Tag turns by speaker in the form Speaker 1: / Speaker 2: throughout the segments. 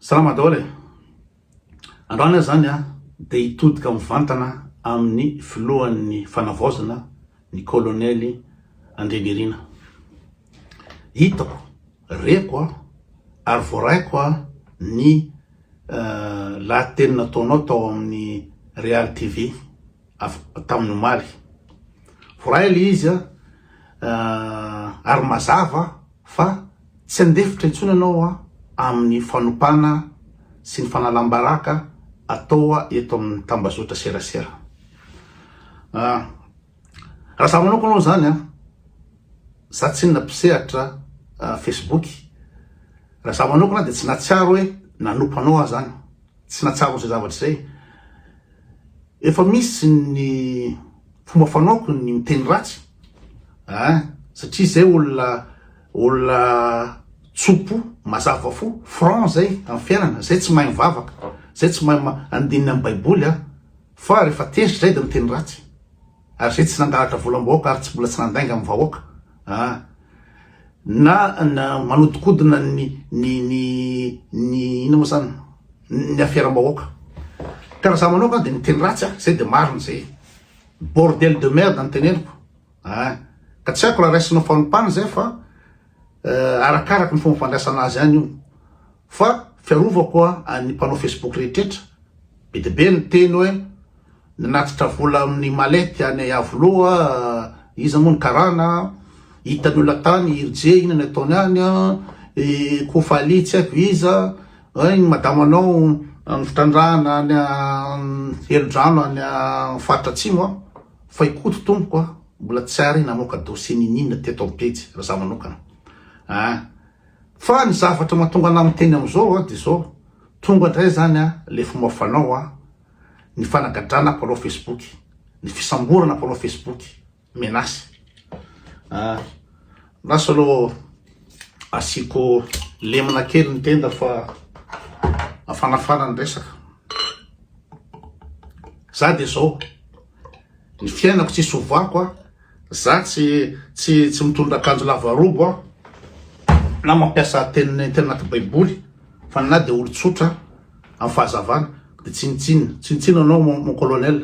Speaker 1: Salama daholo e! Androany aho zany a de hitodika mivantana amin'ny filohan'ny fanavaozana ny kolonely Andrianirina. Hitako, reko aho ary voaraiko aho ny lahateny nataonao tao amin'ny Real TV. avy tamin'ny omaly. Voaray ilay izy an, ah, ary mazava fa tsy handefitra intsony ianao an amin'ny fanompana sy ny fanalam-baraka atao eto amin'ny tambazotra serasera. Ah, raha za manokana aloha izany an, za tsy inona mpisehatra ah, Facebook, raha za manokana dia tsy nahatsiaro hoe nanompa anao aho izany. Tsy nahatsara izay zavatra izay. Efa misy ny fomba fanaoko ny miteny ratsy a, satria izay olona olona tso-po, mazava fo, franc izay amin'ny fiainana, izay tsy mahay mivavaka, izay tsy mahay andininy amin'ny baiboly a, fa rehefa tezitra izay dia miteny ratsy. Ary zay tsy nangalatra volam-bahoaka ary tsy mbola tsy nandainga amin'ny vahoaka an! na manodikodina ny ny ny ny inona moa zany ny aferam-bahoaka ka raha za manokana dia miteny ratsy aho zay dia marina zay bordel de merde ny teneniko an! ka tsy haiko raha raisinao fanompana zay fa arakaraka ny fomba fandraisana azy any io. Fa fiarovako an'ny mpanao Facebook rehetretra, be dia be ny teny hoe nanatitra vola amin'ny malette any Iavoloha, iza moa ny karana, hitan'ny olona tany i RJ inona ny ataony any, i Kofali tsy haiko iza, hay ny madamanao ny fitrandrahana any Helodrano any faritra Atsimo an, fa i Koto tompoko an, mbola tsy ary namoaka dossier n'ininona teto amin'ny pejy, raha za manokana an. Fa ny zavatra mahatonga anah miteny amizao dia izao, tonga indray zany le fomba fanao ny fanagadrana mpanao facebook, ny fisamborana mpanao facebook, menace ah lasa aloha asiako lemina kely ny tenda fa afanafana ny resaka, za dia zao. Ny fiainako tsisy hovako a! Za tsy tsy tsy mitondra akanjo lava robo a! Na mampiasa teny teny anaty baiboly fa na dia olon-tsotra amin'ny fahazavana dia tsinontsinona tsinontsinona anao mon mon colonel.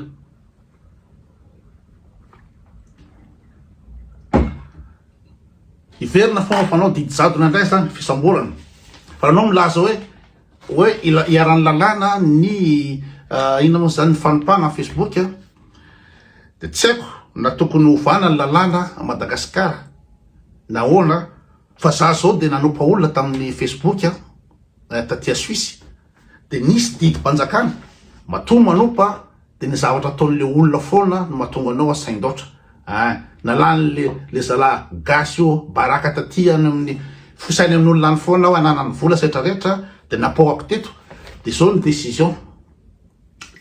Speaker 1: Hiverina foana fa anao didy jadona indray zany fisamborana fa anao milaza hoe Hoe ila- iharan'ny lalàna ny ah, inona moa izany ny fanompana amin'ny Facebook a. Dia tsy haiko na tokony hovana ny lalàna a Madagasikara na ahoana a. Fa za izao dia nanompa olona tamin'ny Facebook a, eh, taty a Suisse. Dia nisy didim-panjakana matoa manompa De ny zavatra ataon'le olona foana no mahatonga anao asaindaotra ah! Na lany le zala gasy io baraka taty any amin'ny fosainy amin'olona any foana aho ananany vola sy rehetra rehetra de napohako teto de zao ny décision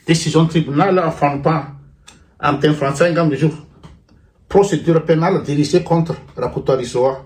Speaker 1: décision tribunal fanompana amin'ny teny frantsay angamba izy io procédure pénale dirigée contre Rakotoarisoa.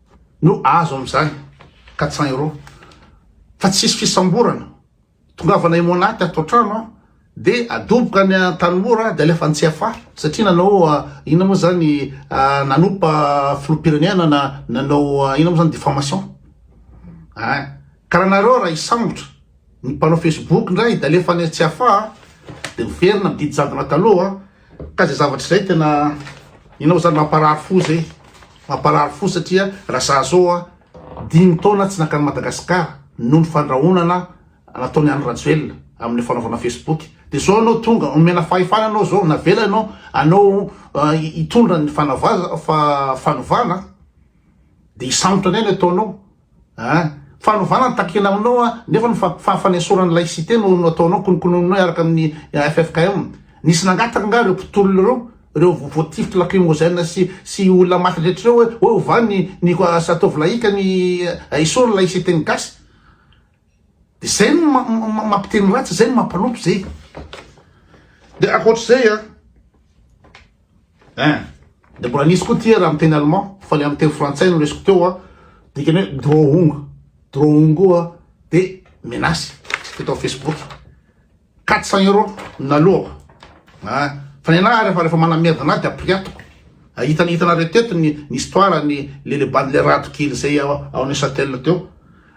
Speaker 1: no azo amin'izany quatre cents euros fa tsisy fisamborana, tongavana Emonaty ato an-trano aho de adoboka any Antanimora de alefa any CFA satria nanao inona moa zany nanompa filoham-pirenena na nanao inona moa zany diffamation, ah ka raha nareo raha hisambotra Ny mpanao Facebook indray dia alefa any Tsiafaha a, dia miverina amin'ny didy jadona taloha a, ka izay zavatra izay tena inona moa izany mamparary fo izay, mamparary fo satria raha izaho izao a, dimy taona tsy nankany Madagasikara noho ny fandrahonana nataon'i Andry Rajoelina amin'ny fanaovana Facebook, dia izao ianao tonga omena fahefana ianao izao, navela ianao anao hitondra ny fanovana dia hisambotra anay ny ataonao, An! Fanovana ny takina aminao an! Nefa ny fa fahafanesorana ny laïcité no no ataonao kononkononina eo araka ny ffkm. Nisy nangataka angaha ireo mpitolona ireo, ireo vo voatifitry lacrymogène sy sy olona maty rehetra ireo hoe hoe ovà ny ny ataovy laïque ny esory ny laïcité ny gasy? Zay no mampiteny ratsy, zay no mampanoto zay. De akoatr'izay a, hein, de mbola nisy koa tia raha miteny allemand, fa le amin'ny teny frantsay no resiko teo a, dikany hoe drohung, drohung koa de menace, hita ao facebook. Quatre cents euros na loha a! Fa ny anah ary efa refa manamiada anah de apiriatiko. Hitan hitanareo teto ny ny histoire ny le le bande le rado kely zay ao ao Neuchâtel teo.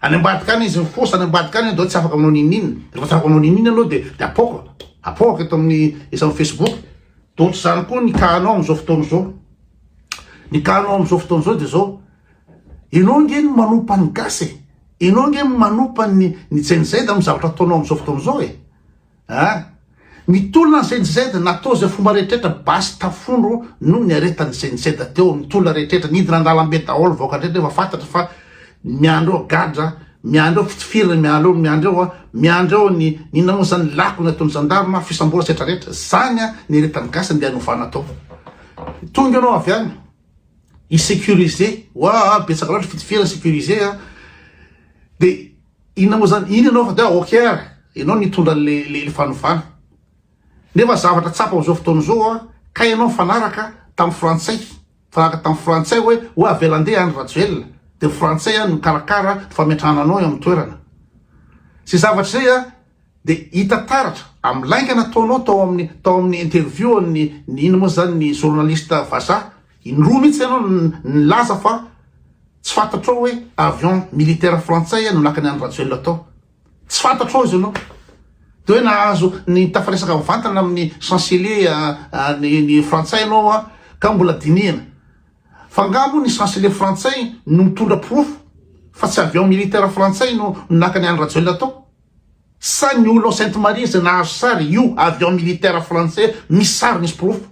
Speaker 1: Any ambadika any izy mifosa any ambadika any de tsy afaka manao ninin. Refa tsy afaka manao ninin anao de de apoaka apoaka eto aminy eto aminy Facebook. De ohatr'izany koa ny cas anao amizao fotoana izao. Ny cas anao amizao fotoana izao de zao. Enao ange no manompa ny gasy e! Enao ange no manompa ny ny Gen Z amin'ny zavatra ataonao amin'izao fotoana izao e! Aa! Mitolona ny Gen Z, natao izay fomba rehetrretra, basy tafondro no niaretan'ny Gen Z teo amin'ny tolona rehetrretra, nidina an-dalambe daholo vahoaka rehetra nefa fantatra fa miandry eo gadra, miandry eo fitifirana, miandry eo, miandry eo, miandry eo ny ny inona moa izany, lako ny ataon'ny zandarma, fisamborana sy retraretra, izany an ny iaretan'ny gasy andeha hanovana atao. Tonga ianao avy any. I sécurisé waa betsaka loatra fitifirana sécurisé a de inona moa zany iny ianao fa dia ok ary ianao nitondra le le fanovana nefa zavatra tsapa amizao fotoana izao a ka ianao mifanaraka tamin'ny frantsay mifanaraka tamin'ny frantsay hoe hoe avela andeha any rajoelina de frantsay any mikarakara fametrahana anao eo amin'ny toerana zay zavatra zay a Dia hita taratra amin'ny lainga nataonao tao amin'ny tao amin'ny interview an'ny ny ino moa izany ny journaliste vazaha, indroa mihitsy ianao nilaza fa tsy fantatrao hoe avion militaire frantsay no nakany an'i Rajoelina tao. Tsy fantatrao izy ianao. Dia hoe nahazo nitafiresaka mivantana amin'ny chancelier ny ny frantsay ianao a ka mbola dinihana. Fa angaha moa ny chancelier frantsay no mitondra porofo fa tsy avion militaire frantsay no nakany an'i Rajoelina tao? Sa ny olona ao Sainte Marie izay nahazo sary io avion militaire frantsay misy sary misy porofo?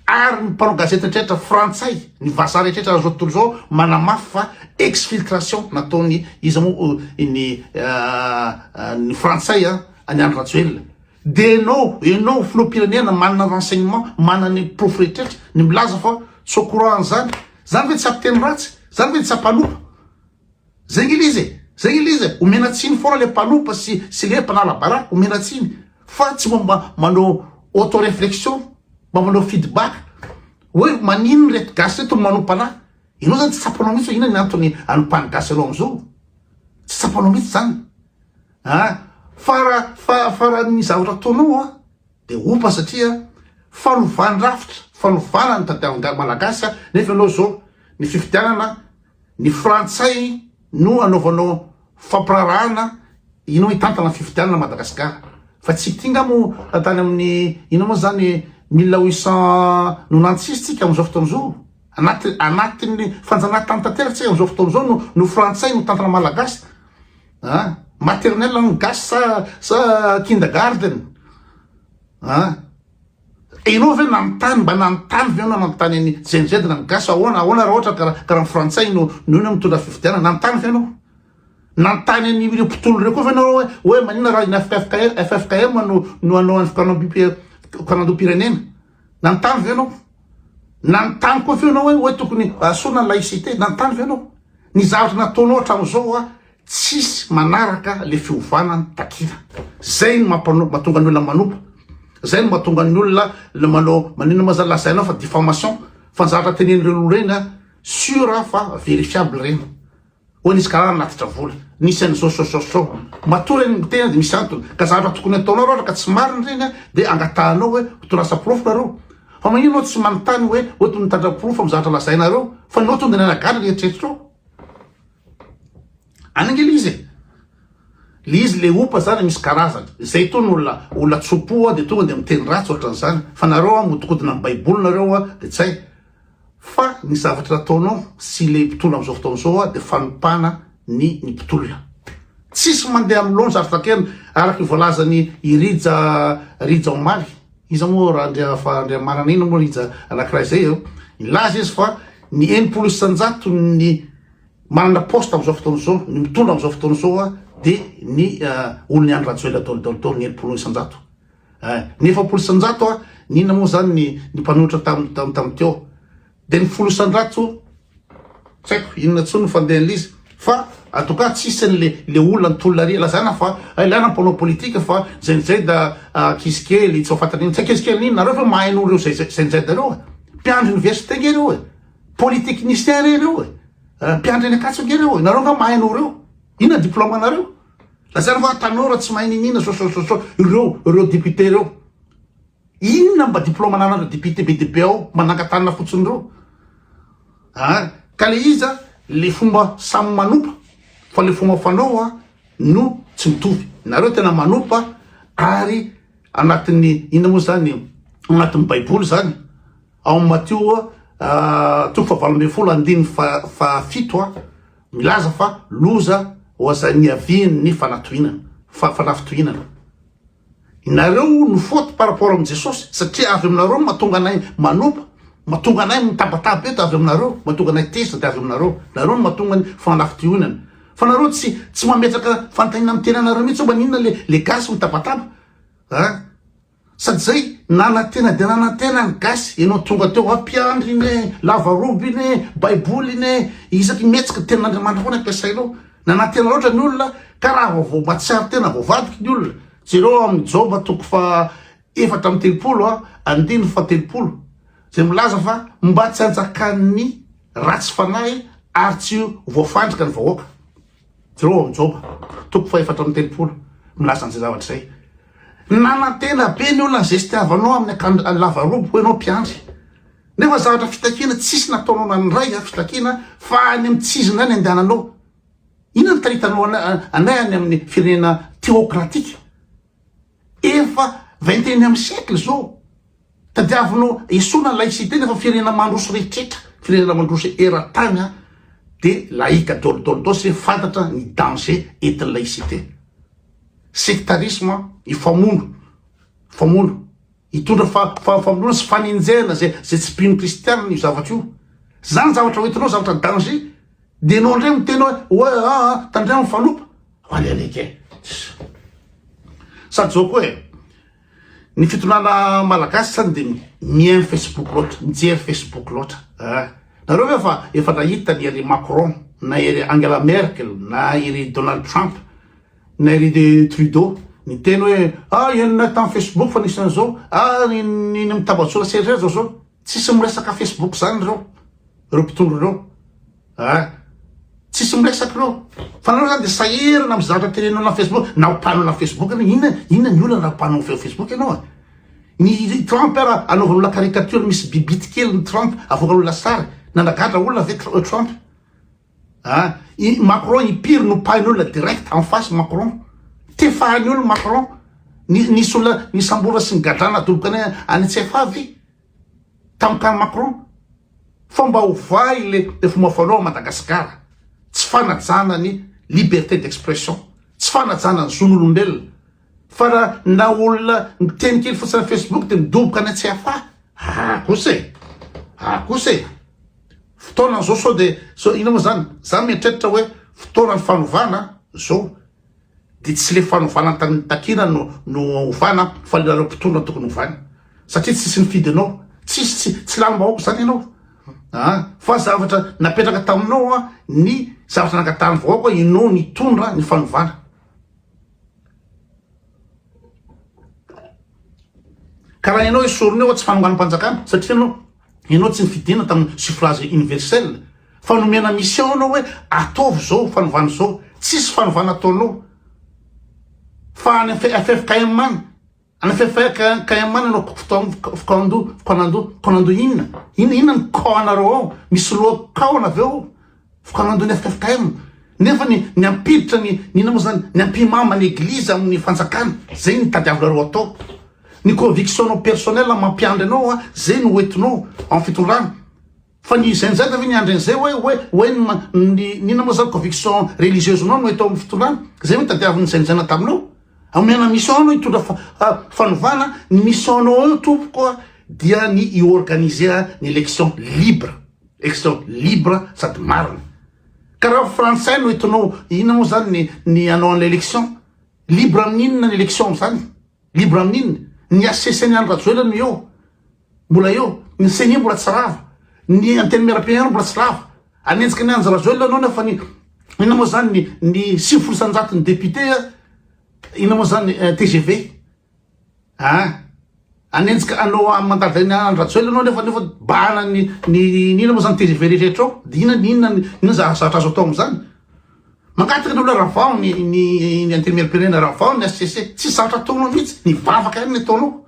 Speaker 1: Ary ny mpanao gazety rehetra frantsay, ny vazaha rehetra azo atoro izao manamafy fa exfiltration nataony iza moa iny ny frantsay an'i Andry Rajoelina. Dia ianao, ianao filoham-pirenena manana renseignement, manana ny porofo rehetrretra, ny milaza fa tsy au courant an'izany, izany ve tsy hampiteny ratsy? Izany ve tsy hampanopa? Zengilizy e! Zengilizy e! Omena tsiny foana le mpanopa sy sy le mpanala baraka omena tsiny fa tsy mba manao auto reflexion mba manao feedback hoe maninona reto gasy reto no manopa anah? Ianao zany tsy tsapanao mihitsy hoe inona ny antony anopan'ny gasy anao amzao? Tsy tsapanao mihitsy zany an! Fa raha fa fa raha ny zavatra ataonao an Dia opa satria fanovany rafitra, fanovana ny tadiavin'ny Malagasy nefa ianao izao ny fifidianana ny frantsay no anaovanao fampiraharahana ianao hitantana ny fifidianana Madagasikara fa tsy ity nga moa tany amin'ny inona moa zany mille huit cent no nantsisy tsika amin'izao fotoana izao anaty anatin'ny fanjanahantany tanteraka tsika amin'izao fotoana izao no no frantsay no tantana Malagasy ah maternelle hoan'ny gasy sa sa kindergarten ah ianao ve nanontany mba nanontany ve ianao nanontany an'i jenjedy na ny gasy ahoana ahoana raha ohatra karaha karaha ny frantsay no no ina mitondra fifidianana nanontany ve ianao nanontany an'i ireo mpitolo ireo koa ve ianao hoe hoe maninona raha ina FFKM no no anao an'ny fikanam-pipier- fikanam-pirenena Nanontany ve ianao? Nanontany koa ve ianao hoe hoe tokony asorina ny laïcité? Nanontany ve ianao? Ny zavatra nataonao hatramin'izao hoa tsisy manaraka le fiovana ny takina. Zay no mampano- mahatonga ny olona manompa. Zay no mahatonga ny olona le manao maninona moa zany lazainao fa diffamation fa ny zavatra tenen'ireny olona ireny a sur fa verifiable ireny. Hoy ny Scar hanatitra vola. Nisy an'izao sao sao sao. Matoa ireny miteny dia misy antony. Ka zavatra tokony ataonao raha ohatra ka tsy marina ireny an, dia angatahanao hoe ho tondrasa porofo nareo. Fa maninona anao tsy manontany hoe oto mitandrina porofo amin'ny zavatra lazainareo fa nao tonga dia nanagaga ny eritreritrao. Any ange l'izy e. L'izy le opa zany misy karazany. Zay tony olona olona tso-po dia tonga dia miteny ratsy ohatran'izany. Fa nareo an mihodikodina amin'ny baiboly nareo an dia tsy hay. Fa ny zavatra ataonao sy le mpitondra amzao fotoana zao a de fanompana ny ny mpitolona. Tsisy mandeha am laonja ary taterina araka ny voalazany i Rija Rija omaly, iza moa ra Andria fa Andriamanana ina moa Rija anakiray zay eo, nilaza izy fa ny enimpolo isanjato ny manana poste amzao fotoana zao, ny mitondra amzao fotoana zao a de ny olon'i Andry Rajoelina daoly daoly daoly ny enimpolo isanjato. Eh! Ny efapolo isan-jato a! N'inona moa izany ny ny mpanohitra tam tam tam teo? Dia ny folo isan-drato? Tsy haiko inona intsony ny fandehan'l'izy fa en tout cas tsisy an'le le olona nitolona ary lazana fa ilana ny mpanao politika fa zay ny zay da ankizy kely tsy mahafantatra inona. Tsy ankizy kely n'inona? Nareo ve mahay noho ireo zay zay zay ny zay nareo e? Mpiandry université ange ireo e! Polytechnicien re ireo e! Mpiandry any Ankatso ange ireo e! Nareo nga mahay noho ireo? Inona ny diplôme-nareo? Lazaina fa tanora tsy mahay niniana sosososo ireo ireo député ireo. Inona mba diplôme ananan'ireo député be dia be ao mba nankatanana fotsiny ireo. Ah, ka le izy a le fomba samy manompa fa le fomba fanao a no tsy mitovy. Nareo tena manompa ary anatin'ny inona moa zany anatin'ny baiboly zany ao Matio a toko fahavalo ambin'ny folo andininy fa fahafito a Milaza fa loza ho azany hiaviany ny fanatohinana, fa fanafitohinana. Inareo no faute par rapport amin'i Jesosy, satria avy aminareo no mahatonga anay manompa, mahatonga anay mitabataba eto avy aminareo, mahatonga anay tezitra dia avy aminareo, nareo no mahatonga ny fanafitohinana. Fa nareo tsy tsy mametraka fanontaniana amin'ny tenanareo mihitsy hoe maninona le le gasy mitabataba a. Sady zay nanantena dia nanantena ny gasy, enao tonga teo ampiandry iny e, lavarobo iny e, baiboly iny e, isaky ny mihetsika ny tenin'Andriamanitra foana ampiasainao, nanantena loatra ny olona ka raha vao vao mahatsiaro tena voavadiky ny olona, jereo ao amin'ny Joba toko faha efatra amby telopolo andininy faha telopolo izay milaza fa mba tsy hanjakan'ny ratsy fanahy ary tsy voafandrika ny vahoaka. Jereo ao amin'ny Joba, toko fahefatra amby telopolo, milaza an'izay zavatra izay. Nanantena be ny olona ny zesty havanao amin'ny akanjo lava robe, hoy ianao mpiandry. Nefa zavatra fitakiana tsisy nataonao nandray an, fitakiana fa any amin'ny tsy izy indray ny andehananao. Inona no taritanao anay any amin'ny firenena teokratika? Efa vingt et unième siècle izao, tadiavino esorina ny laïcité nefa firenena mandroso rehetrretra, firenena mandroso eran-tany an, de laïque daholo daholo daholo satria fantatra ny danger entin'ny laïcité. Sectarisme, hifamono, hifamono, hitondra fa fa famonoana sy fanenjehana zay zay tsy mpino kristianina io zavatra io. Zany zavatra hoentinao zavatra danger, de enao ndray miteny hoe oe aa tandremo fanompa. Any alika e! Sady zao koa e, ny fitondrana malagasy sany dia mihaino Facebook loatra, mijery Facebook loatra. Eh, nareo ve fa efa nahita ny ery Macron, na ery Angela Merkel, na ery Donald Trump, na ery de Trudeau, ny teny hoe ah enina tamin'ny Facebook fa nisy an'izao, ah ny ny mitambajola serrera zao zao, tsisy miresaka Facebook zany ireo, ireo mpitondra ireo. Ah! Tsisy miresaka ireo. Fa nareo zany dia sahirana amin'ny zavatra teneninao anaty Facebook. Na ho mpanao anaty Facebook ianao, inona inona ny olana raha mpanao Facebook ianao a? Ny Trump ara anaovan'ny olona caricature misy bibity kely ny Trump avoakan'ny olona sary. Nanagadra olona ve Tr- Trump? Ah, i Macron impiry nopahin'ny olona direct en face Macron. Tefahan'ny olona Macron. Ni- Nisy olona nisambora sy nigadrana adoboka any any CFA ve? Tantan'i Macron fa mba ho vahy le fomba fanao à Madagasikara, tsy fanajana ny liberté d'expression, tsy fanajana ny zon'olombelona, fa ra na olona miteny kely fotsiny am Facebook de midoboka any an-tsy afà, aa kosa e! aa kosa e! fotoanan'izao sao de sao inona moa zany, za mieritreritra hoe fotoanan'ny fanovana zao, Dia tsy ilay fanovana ny tamin'ny takina no no ovana fa ianareo mpitondra no tokony ovana satria tsisy nifidy anao tsisy tsy tsy lanim bahoaka izany ianao a fa zavatra napetraka taminao a ny zavatra nangatahan'ny vahoaka ianao nitondra ny fanovana Ka raha ianao esorina eo aho tsy fanonganam-panjakana satria ianao ianao tsy nifidina tamin'ny suffrage universel fa nomena mission ianao hoe ataovy izao fanovana izao tsisy fanovana ataonao fa any ffkm any any ffkm any ianao fkando fkanando fkanando inona inona inona ny cas anareo ao misy loha cas anaveo Fikaonan-doha ny ffkm. Nefa ny ny hampiditra ny ny inona moa izany? Ny hampimama ny eglizy amin'ny fanjakana. Izay no tadiavinareo atao. Ny conviction-nao personnelle mampiandry anao an, izay no hoentinao amin'ny fitondrana. Fa ny izay injaika ve niandry an'izay hoe hoe hoe ny ma ny ny inona moa izany conviction religieuse-nao no entinao amin'ny fitondrana? Izay ve tadiavin'ny izay nijaina taminao? Omena mission anao hitondra fa fa fanovana, ny mission-nao eo tompoko an dia ny hi-organiser ny élection libre. Extra libre sady marina. Ka raha frantsay no etonao inona moa zany ny ny anao an'ilay election? Libre amin'ny inona ny election amin'izany? Libre amin'ny inona? Ny HCC an'i Andry Rajoelina no eo. Mbola eo. Ny ceni mbola tsy rava. Ny antenimierampirenena mbola tsy rava. Hanenjika an'i Andry Rajoelina anao nefa ny inona moa zany ny ny sivifolo isanjaton'ny député inona moa zany TGV? An! Hanenjika anao amin'ny mandavin'i Andry Rajoelina anao nefa nefa bahana ny ny inona moa zany tgv rehetra ao dia inona ny inona inona zavatra azo atao amin'izany? Mangataka ny olona ravao ny ny ny antenimieram-pirenena ravao ny HCC tsy zatra ataonao mihitsy ny vavaka ihany ny ataonao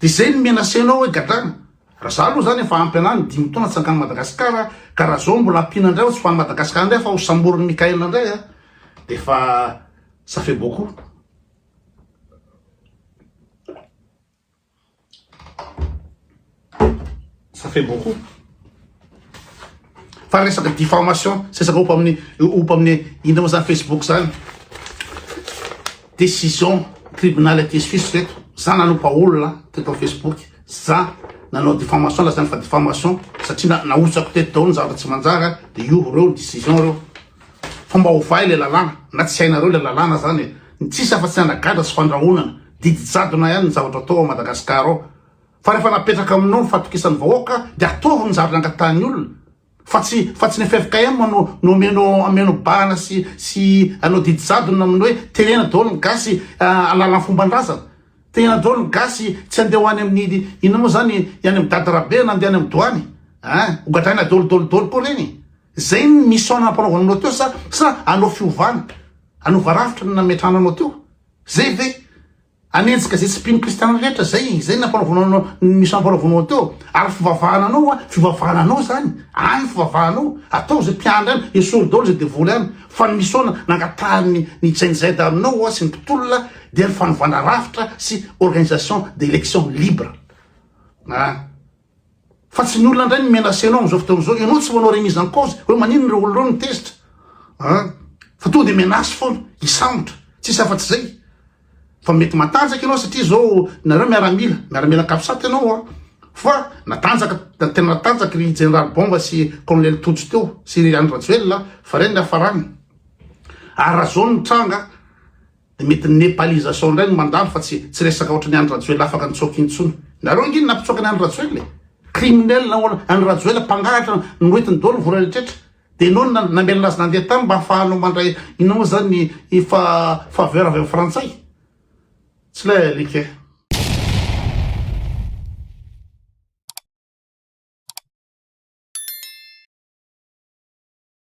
Speaker 1: dia izay ny menacé anao hoe gadrana raha za aloha zany efa ampy anany dimy taona tsy angan'i Madagasikara ka raha zao mbola ampiana indray tsy ho an'i Madagasikara indray fa ho samborin'i Mickaël indray a dia efa ça fait beaucoup ça fait beaucoup fa resaka diffamation sy resaka ompa amin'ny ompa amin'ny indra moa zany facebook zany décision tribunal aty suisse reto za nanompa olona teto amin'ny facebook za nanao diffamation la zany fa diffamation satria nahotsako teto daholo ny zavatra tsy manjara de io reo ny décision reo fa mba ovay le lalàna na tsy hainareo le lalàna zany e Ny tsisy afa-tsy ny anagadra sy fandrahonana, didy jadona ihany ny zavatra atao ao Madagascar ao. Fa rehefa napetraka aminao ny fatokisan'ny vahoaka dia ataovy ny zavatra nangatahan'ny olona. Fa tsy fa tsy ny ffkm no no omeno ameno bahana sy sy anao didy jadona amin'ny hoe terena daholo ny gasy alalan'ny fomban-drazana. Terena daholo ny gasy tsy handeha ho any amin'ny inona moa izany any amin'ny dada Rabe na handeha any amin'ny doany. An! Hogadraina daholo daholo daholo koa ireny e! Zay ny mission nampanaovananao teo sa sa hanao fiovana? Hanova rafitra ny nametrahana anao teo? Zay ve? Hanenjika zay tsy mpino kristiana rehetra zay? Zay ny nampanaovanao anao ny mission nampanaovanao anao teo? Ary fivavahana anao an, fivavahana anao zany, any ny fivavahanao, atao zay mpiandry any, esory daholo zay devoly any, fa ny mission nangatahan'ny ny Gen Z aminao an sy ny mpitolona dia ny fanovana rafitra sy organisation d'elections libres. An. Fa tsy ny olona indray no menacé anao amin'izao fotoana izao, ianao tsy manao remise en cause, hoe maninona ireo olona ireo no tezitra an, fa tonga dia menace foana, hisambotra, tsisy afa-tsy izay. Fa mety matanjaka ianao satria izao nareo miaramila, miaramila capsat ianao an, fa natanjaka, tena natanjaka ry Jeneraly Bomba sy Kolonely Tojo teo sy ry Andry Rajoelina, fa ireny ny hiafarany. Ary raha izao no tranga, Dia mety ny Nepalisation indray no mandalo fa tsy tsy resaka ohatran'ny Andry Rajoelina afaka nitsoaka intsony. Nareo ange ny nampitsoaka ny Andry Rajoelina e. Criminel nahoana Andry Rajoelina mpangalatra noentiny daholo vola rehetra dia enao no namelona azy nandeha tany mba afahanao mandray inona moa zany ny fa faveur avy amin'ny frantsay. Tsy lay alika e.